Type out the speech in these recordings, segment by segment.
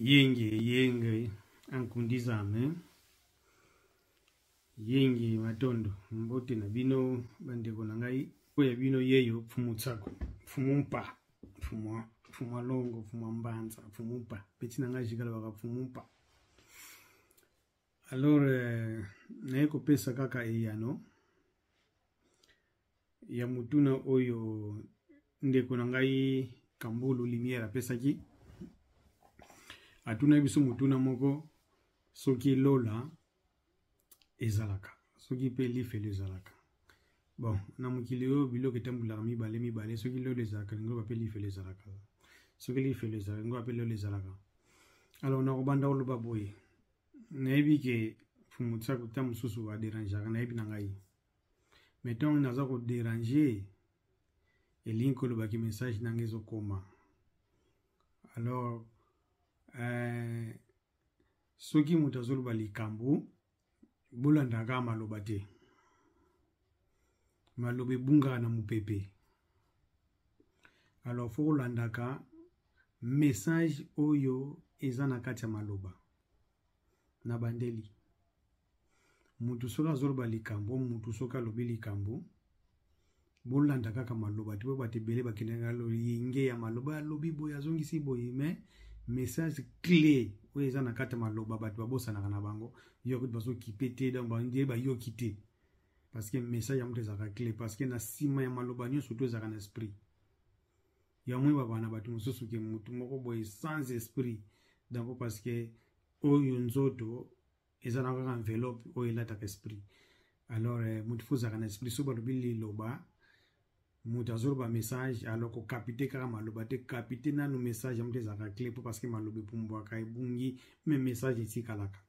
yenge yenge ankundizame yenge matondo mbote na bino bandeko na ngai oyo ya bino yeyo mfumu tsako mfumu mpa mfumu mfumu alongo mfumu mbanza mfumu mpa peti na ngai jikalobaka mfumu mpa alors euh, naye kopesa kaka eyano ya motuna oyo ndeko na ngai kambulu lumière apesaki atunaki biso motuna moko soki lola ezalaka soki mpe lifelo ezalaka bon na mokili oyo biloko etambolaka mibale mibale soki lola ezalaka lingoba mpe lifelo ezalaka soki lifelo ezalaka lingoba mpe lola ezalaka alors nakobanda koloba boye nayebi ke fumu tisako ta mosusu aderangeaka nayebi na ngai mais ntango nini aza koderange elingi kolobaki message nanga ezokoma alors euh, soki moto azoloba likambo bolandaka maloba te maloba ebungaka na mopepe alors fo kolandaka message oyo eza na kati ya maloba na bandeli mutu soki azoloba likambo mutu soki alobi likambo bolanda kaka maloba te po bato ebele bakendaka loyenge ya maloba alobi boye azongisi boye mais message clé oyo eza na kati ya maloba bato babosanaka na bango yo kutu bazokipe te donc bandie bayoki te parce que message ya moto ezalaka clé parce que na nsima ya maloba nyonso to ezalaka na esprit ya mwe babana bato mosusu ke motu moko boye sans esprit donc parce que oyo nzoto eza na kaka enveloppe oyo elataka esprit alors eh, motu fo ozalaka na esprit so balobi liloba moto azoloba message alors kokapite kaka maloba te kapite nanu message yango te ezalaka cle mpo parce que maloba epumbwaka ebungi me message etikalaka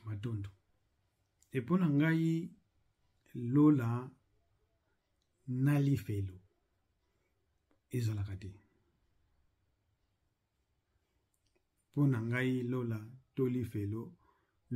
matondo epo na ngai lola na lifelo ezalaka te mpo na ngai lola to lifelo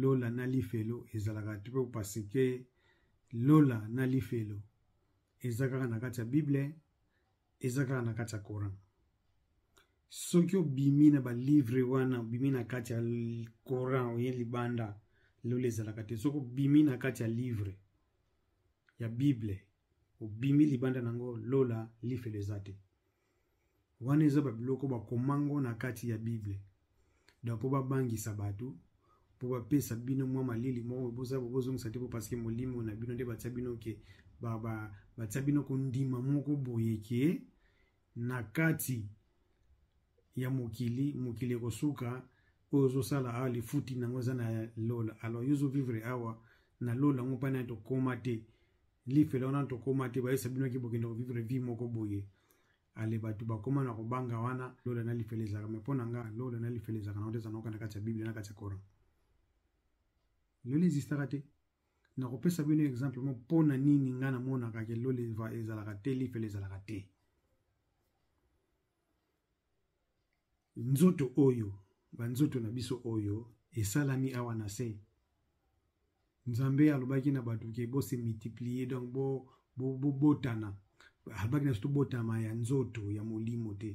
lola na lifelo ezalaka te mpo pasike lola na lifelo eza kaka na kati ya bible eza kaka na kati ya coran soki obimi na balivre wana obimi na kati ya coran oye libanda lola ezalaka te soki obimi na kati ya livre ya bible obimi libanda nango lola lifelo eza te wana eza babiloko bakoma ngo na kati ya bible donc mpo babangisa bato mpo bapesa bino mwa malili moko boza bozongisa te mpo parceke molimo na bino nde batya bino ke batya bino kondima moko boye ke na kati ya mokili mokili ekosuka oyo ozosala awa lifuti nango eza na lola alors yo ozovivre awa na lola yango mpa nani tokoma te lifelo wana tokoma te bayesa bino ki bokende kovivre vie moko boye ale bato bakoma na kobanga wana lola na lifelo ezalaka me mpo na nga lola na lifelo ezalaka nango te ezanaoka na kati ya biblia na kati ya coran lola ezistaka te nakopesa bino exemple mo mpo na nini ngai namonaka ke lole ezalaka te lifelo ezalaka te nzoto oyo banzoto na biso oyo esalami awa na se nzambe alobaki na bato ke bose multiplier donc bobotana bo, bo alobaki na biso tobotama ya nzoto ya molimo te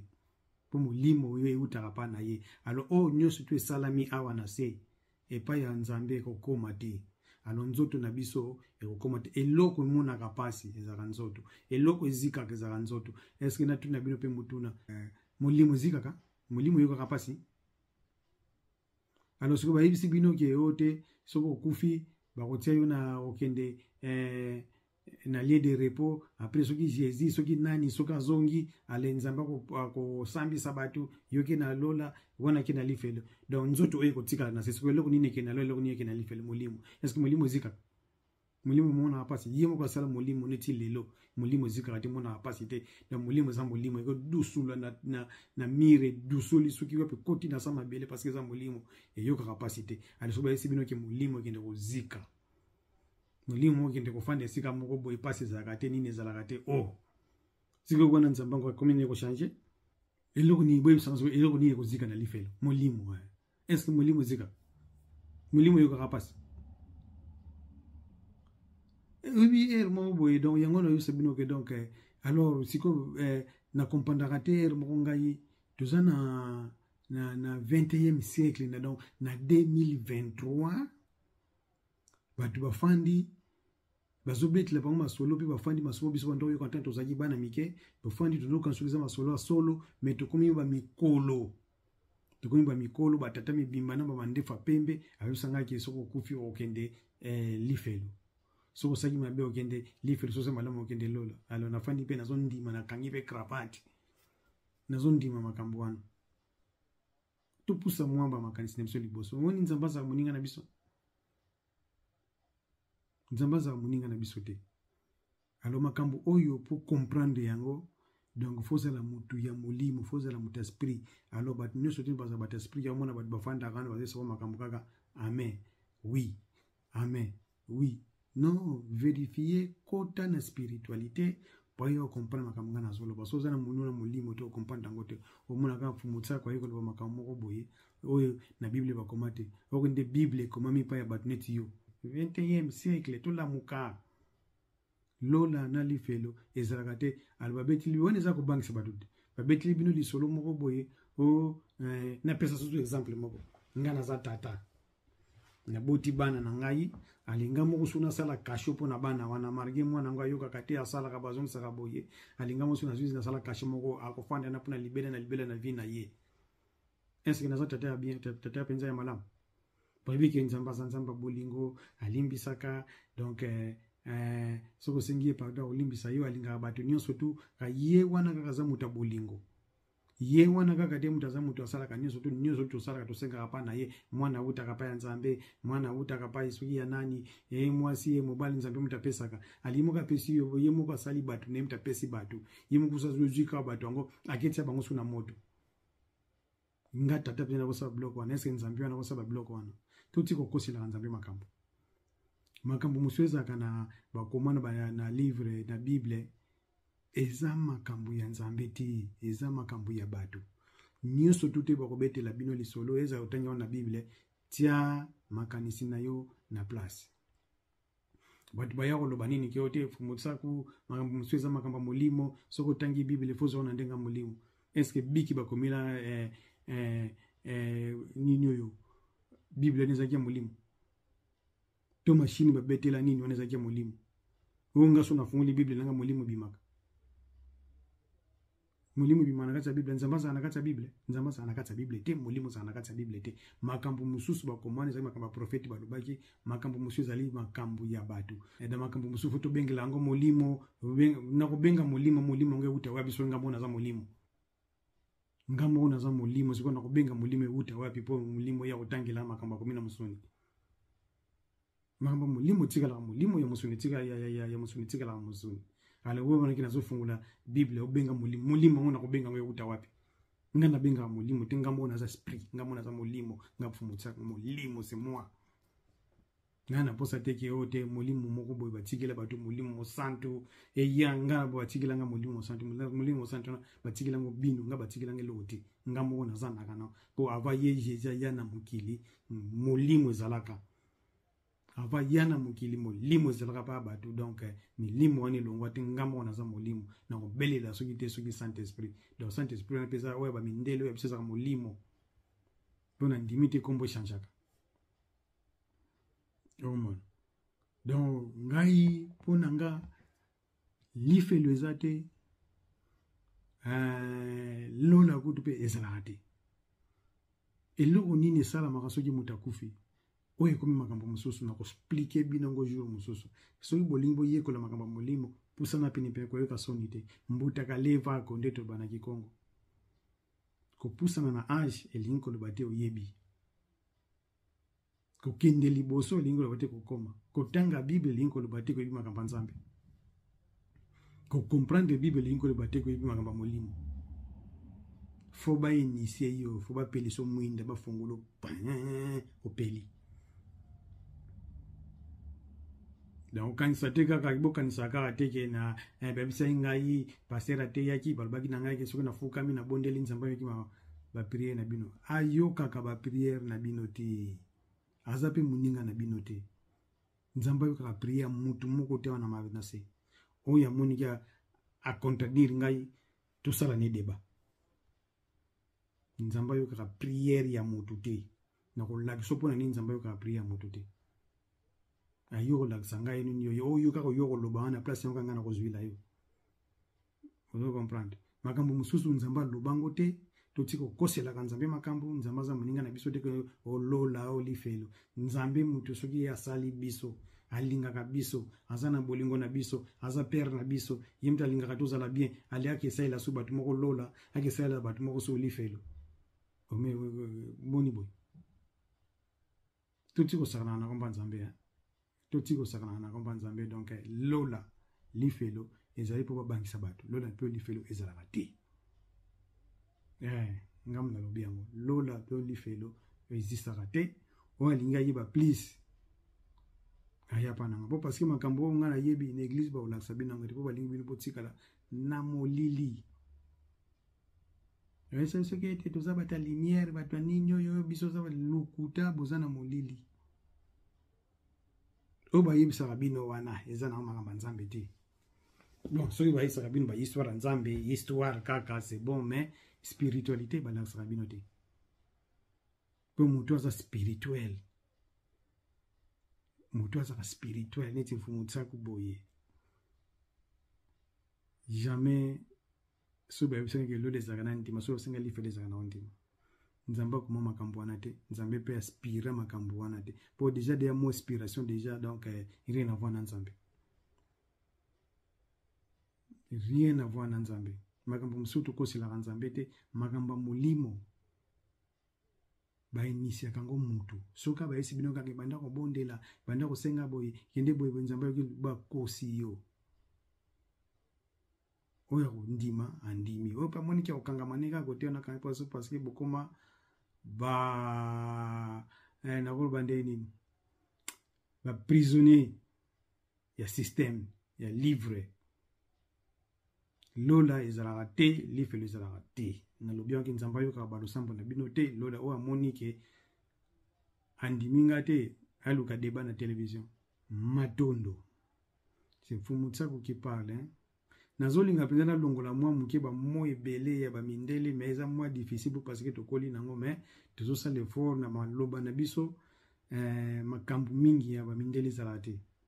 mpo molimo oyo eutaka mpa na ye alo oyo nyonso to esalami awa na se epai ya nzambe ekokoma te alo nzoto na biso ekokoma te eloko emonaka mpasi ezalaka nzoto eloko ezikaka ezalaka nzoto eske natuni na bino mpe motuna eh, molimo ezikaka molimo eyokaka mpasi alo soki bayebisi bino ke yo te soki okufi bakotia yo na okende eh, na lieu de repos après soki jésus soki nani soki azongi ale nzambe akosambisa bato yoke na lola wana ake na lifelo donc nzoto oyo ekotikala na se soki eloko nini eke na lola eloko nini eke na lifelo molimo eske molimo ezikaka molimo emonaka mpasi ye moko asala molimo neti lelo molimo ezikaka te emonaka mpasi te donc molimo eza molimo ekodusula na, na, na mire edusoli soki wapi ekoti na sa mabele parce eza molimo eyokaka mpasi te ale soki bayesi bino ke molimo ekende kozika molimo okende kofanda esika moko boye mpasi ezalaka te nini ezalaka te o oh. sikoyo wana nzambe yango akomi nini ekochange eloko nini boyebisanga soko eloko nini ekozika na lifelo molimo eh. estce molimo ezika molimo eyokaka mpasi oyebi eh, ere moko boye donc yango nayosa bino ke donc eh, alors sikoyo eh, na comprendaka te ere moko ngai toza na na, na 21e siècle na donc na 2023 bato bafandi bazobetela bango masolo mpe bafandi masolo biso banda oyoka ntango tozalaki bana mike tofandi tozoyoka soki eza masolo ya solo me tokomi bamikolo tokomi bamikolo batata mibimba na bamandefa pembe ayosangaki soki okufi okokende eh, lifelo soki osaki mabe okende lifelo soki malamu okende lola alo nafandi mpe nazondima nakangi mpe cravate nazondima makambo wana topusa mwa bamakanisi na biso liboso omoni nzambe azala moninga na biso nzambe azala moninga na biso te alo makambo oyo mpo comprendre yango donc fo ozala motu ya molimo fo ozala motu ya sprit alo bato nyonso te bazala bato ya sprit ya omona bato bafandaka wana bazali soko makambo kaka amen oui amen oui non verifie kota na spiritualité mpo yo okomprendre makambo ngai nazoloba so oza na monu na molimo te okomprendre yango te omona kaka fumutisaka aye koloba makambo moko boye oyo na bible bakoma te oko nde bible ekomami epai ya bato neti yo 21e siècle tolamuka lola na lifelo ezalaka te alo babetili wana eza kobangisa bato te babetili bino lisolo moko boye o oh, eh, napesa susu exemple moko ngai naza tata naboti bana na ngai alinga moko so nasala kasho mpo na bana wana marge mwana yango ayokaka te asalaka bazongisaka boye alinga moko so nazwi nasala kasho moko akofanda na mpo na libela na libela na vie na ye eske naza tata ya bien tata mpenza ya malamu boyebi ke nzambe aza nzambe ya bolingo alimbisaka donc eh, eh, soki osengi ye pardon akolimbisa yo alingaka bato nyonso tu ka ye wana kaka aza moto ya bolingo ye wana kaka te moto aza moto asalaka nyonso tu nyonso tosalaka tosengaka mpa na ye mwana awutaka mpa ya nzambe mwana awutaka mpa ye soki ya nani ye mwasi ye mobali nzambe moto apesaka alingi moko apesi yo ye moko asali bato na ye moto apesi bato ye moko sazozwi kaka bato yango aketia bango so na moto nga tata mpe nakosala biloko wana eske nzambe wana akosala biloko wana toti kokoselaka nzambe makambo makambo mosusu ezalaka na bakoma na, na livre na bible eza makambo ya nzambe te eza makambo ya bato nyonso tu te bakobetela bino lisolo ezala otangi wana na bible tia makanisi na yo na place bato baya koloba nini ke yo te mosaku makambo mosusu eza makambo ya molimo soki otangi bibele fo ozwa na ndenge ya molimo estce biki bakomela eh, eh, eh, nini oyo biblia wana ezalaki ya molimo to mashini babetela nini wana ezalaki ya molimo oyo nga so nafungoli biblia nanga molimo ebimaka molimo ebima na kati ya bible nzambe azala na kati ya bible nzambe azala na kati ya bible te molimo azala na kati ya bible te makambo mosusu bakomani ezali makambo ya profeti balobaki makambo mosusu ezali makambo ya bato na makambo mosusu fo tobengela yango molimo na kobenga molimo molimo yango euta wapi soki ngambo naza molimo ngambo oyo naza molimo sikoyo na kobenga molimo euta wapi mpo molimo ya kotangela makambo akomi na mosuni makambo ya molimo etikalaka molimo ya mosuni ya mosuni etikalaka mosuni ale oyo wanaki nazofungola bible obenga molimo molimo yango nakobenga yango euta wapi nga nabengaka molimo te ngambo oyo naza esprit ngambo naza molimo nga mfumotisaka molimo se moi ngai naposa te ke oyo te molimo moko boye batikela bato molimo mosantu eya nga batikela nga molimo mosantu molimo mosantu wana batikela ngo bino nga batikela nga eloko te nga moko nazandaka na mpo ava ye jesus aya na mokili molimo ezalaka ava ya na mokili molimo ezalaka mpa bato donk eh, milimo wana elongwa te nga moko naza molimo na kobelela soki te soki saint esprit donc saint esprit wana mpe eza oyo bamindele oyo biso ezalaka molimo mpo na ndimi te nkombo echangeaka omona donc ngai mpo na nga lifelo eza te eh, lola kutu mpe ezalaka te eloko nini esalamaka soki moto akufi oyo ekomi makambo mosusu na kosplike bino yango jour mosusu soki bolingi boyekola makambo ya molimo pusana penepene koyoka soni te mbutaka levako nde tobanaki kongo kopusana na age elingi koloba te oyebi kokende liboso elingi koloba te kokoma kotanga bible elingi koloba te koyebi makambo ya nzambe kocomprendre bible elingi koloba te koyebi makambo ya molimo fo bainisie yo fo bapeliso mwinda bafongolo opeli donc okanisa te kaka bokanisa kaka te ke na eh, babisaki ngai paster ateyaki balobaki na ngai ke soki nafukami nabondeli nzambe ameki mama ba prière na bino ayokaka ba prière na bino te aza mpe moninga na bino te nzambe ayokaka prière ya motu moko te wana na se oyo amoniki acontradire ngai tosala ne deba nzambe ayokaka prière ya motu te nakolakisa mpo na nini nzambe ayokaka prière ya motu te ayo kolakisa ngai nini oyo oyo kaka oyo koloba wana place yango kanga nakozwila yo ozo comprendre makambo mosusu nzambe aloba yango te totika kokoselaka nzambe makambo nzambe aza moninga na biso te ke olola oh, olifelo oh, nzambe moto soki ye asali biso alingaka biso aza na bolingo na biso aza pere na biso ye moto alingaka tozala bien ale ake esalela so bato moko lola ake esalela bato moko so olifelo oh, boni boye toti kosakana na komba nzambe totika kosakanaka na komba nzambe donc eh, lola lifelo ezali mpo babangisa bato lola mpe lifelo ezalaka te eh, ngambo nalobi yango lola mpe lifelo ezistaka te oyo alingi ayeba please ayapa nanga mpo parceke makambo oyo ngai nayebi na eglize bakolakisa bino yango te mpo balingi bino botikala na molili oyesai soki ete toza bato ya limiere bato ya nini oyo biso oza lokuta boza na molili oyo bayebisaka bino wana eza na makambo ya nzambe te bon soki bayebisaka bino bahistoire ya nzambe histoire kaka c'est bon mais spiritualité balakisaka bino te mpo motu aza spirituel motu azaka spirituel neti mfumu nsaku boye jamais soki bayebisaki ke lola ezalaka na ndima soki osenga lifelo ezalaka na ondima nzambe akoma makambo wana te nzambe mpe aspira makambo wana te mpo deja deya mo inspiration deja donc eh, rien avoir na nzambe rien avoir na nzambe makambo mosusu tokoselaka nzambe te makambo ya molimo bainitiaka yango motu soki abayesi bino kaka ebanda kobondela ebanda kosenga boye kende boye boye nzambe ayoki bakosi yo oyo akondima andimi oyo mpe amoniki akokangama ndenge akote wana akangi mposo parceke bokoma ba eh, nakoloba ndenge nini baprisonnier ya systeme ya livre lola ezalaka te lifelo ezalaka te nalobi yanki nzambe ayokaka balosambo na bino te lola oyo amoni ke andimi nga te aluka deba na televizio matondo c'est mfumu tsako qui parle hein? nazolinga mpenza nalongola mwa moke bamo ebele ya bamindele mais eza mwa difficile po parce que tokoli nango mais tozosala effort na maloba na biso eh, makambo mingi ya bamindele ezalaka te